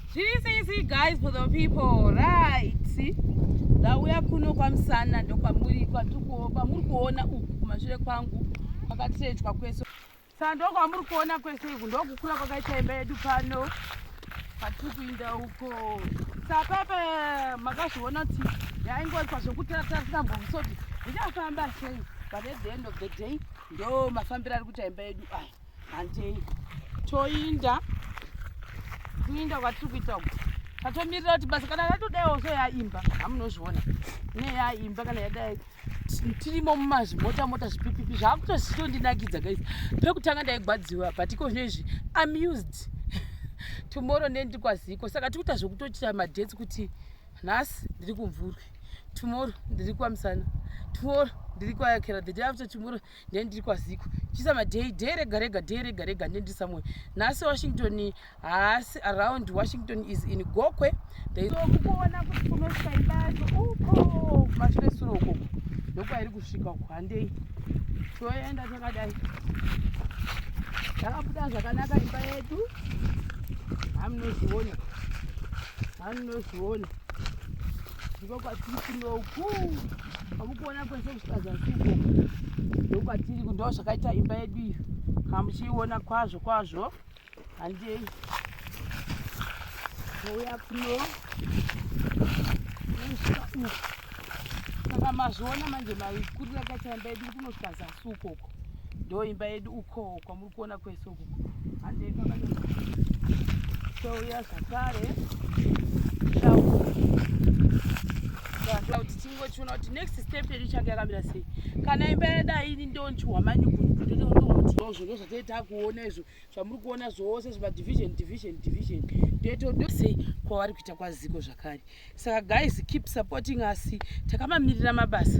Zviri sei sei guys for the people right ndauya kuno kwamusana ndokwamuri kwamuri kuona uku kumashure kwangu kwakatirejwa kwese saka ndokwamuri kuona kwese iku ndokukura kwakaita imba yedu pano patiri kuinda uko sapepe makazviona kuti yaingoitwa zvekutaratarisa mbomsoti ndichafamba sei but at the end of the day ndo mafambiro ari kuita imba yedu aya handei toinda kuinda kwatiri kuita uku tatomirira kuti basa kana yatodaiwo so yaimba hamunozviona ne yaimba kana yadai tirimo mumazvimota mota zvipipipi zvaakutozitondinakidza guys pekutanga ndaigwadziwa but iko zvino izvi amused tomorrow ndendi kwaziko saka tikuita zvekutochita madhets kuti nhasi ndiri kumvurwi tomorrow ndiri kwamusana tomorrow ndiri kwayakera the day after tomorrow ndiye ndiri kwaziko chisa madhei dhei rega rega dhei rega rega ndiye ndiri somewhere nhasi washington haasi around washington is in gokwe kuona kuti kunosvika imba yacho uko kumashure sure ukoko ndokwairi kusvika uko handei toenda takadai yakabuda zvakanaka imba yedu hamunozviona hamunozviona ndiko kwatiri kunoku kwamukuona kwese kusvika zasi uko ndokwatiri kundo zvakaita imba yedu iyo kamuchiiona kwazvo kwazvo handei ouya kuno usvika uku saka mazviona manje maikurira kaita imba yedu iri kunosvika zasi ukoko ndo imba yedu ukoo kuona kwese uku handei touya zvakare kuti tingochiona kuti next step yedu ichange yakamira sei kana imba yadai ini ndonchihwa manyukuuzvozvo zvatei takuona izvo zvamuri kuona zvose zvimadivision division division ndetodosei kwavari kuita kwaziko zvakare saka guys keep supporting us takamamirira mabasa